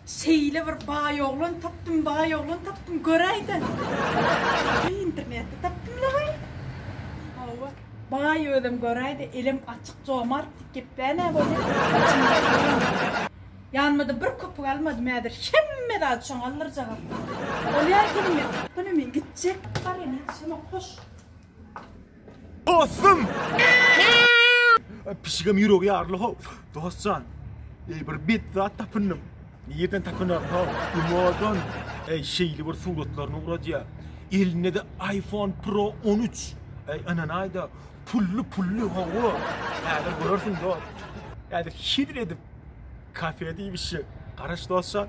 Şeýle bir baý oglan tapdym, baý oglan tapdym, göräýsen. Internetde tapdym lahaý. Hawa, baý özem göräýdi, elem açyk, jomart, dikgepbä-nä bolýar. Ýanyma-da bir köpük almadym, häzir hemme zady şoňa aldyrjagam. Bolýar, gelin men. Ýöne men gitjek. Bar ene, şoňa goş. Dostum! Pişigim ýüregi ýarly ho. Dostjan. Ey bir bit zat tapyndym. Nirden tapynar ho? Imodan. Ey şeýle bir suratlaryny ugradýa. Elinde de iPhone Pro 13. Ey ananaýda. Pully pully ho. Häzir görersiň dost. Häzir şidil edip kafede iýmişi. Garaş dostjan.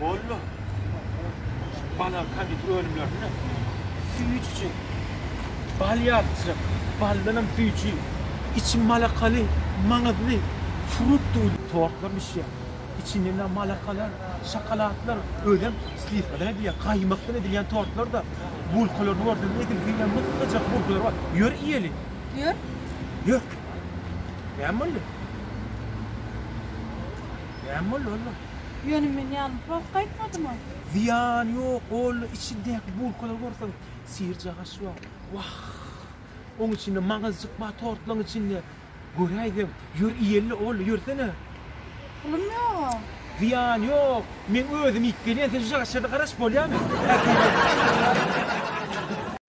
Boldy. Bala konditer önümlerinde süýt içi, bal ýalyçyk, baldanam süýji, içi malakaly, maňyzly, fruktly tortlar bişýär. Içindenam malakalar, şokoladlar, özem sliwkadan edilýän, gaýmakdan edilýän tortlar-da, bulkalaryny görseňiz, edil diýen mysgajak bulkalary bar. Ýör iýeli. Ýör. Ýör. Näme boldy? Näme boldy, Ollo? Ýöne men ýanym prost gaýtmadyma. Zyýany ýok, ola içindäki bulkalary görseň, syr-jagaş bar. Wah! Oň içinde maňyzjyk bar tortlaryň içinde. Göräýseň, ýör iýeli, ola ýörsene. Pulum ýog-a. Zyýany ýok, meň özüm iýip gelýän, sen şu jagaşlarda garaşyp bolýamy?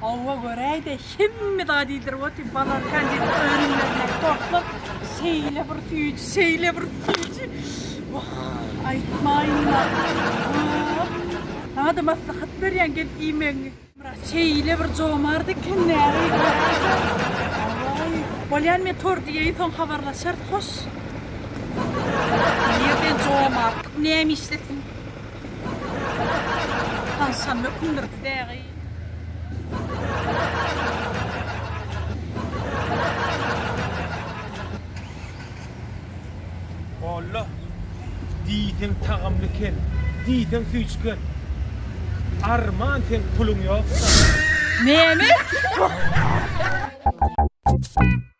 Hawa göräýde hemme zat iýdirip otyr bala konditer önümlerine gorkup şeýle bir süýji şeýle bir süýji wah aýtmaýynla Saňa-da maslahat berýän gelip iýmegiňi. Myrat şeýle bir jomart eken näre Hawaý Bolýan men tort iýeýin soň habarlaşarys hoş. Nirden jomartlyk näme işlesin. Tagşan mökündir dägi. Alla! Diýseň tagamly kel, diýseň süýçgen. Arman seň puluň ýoksa. Name?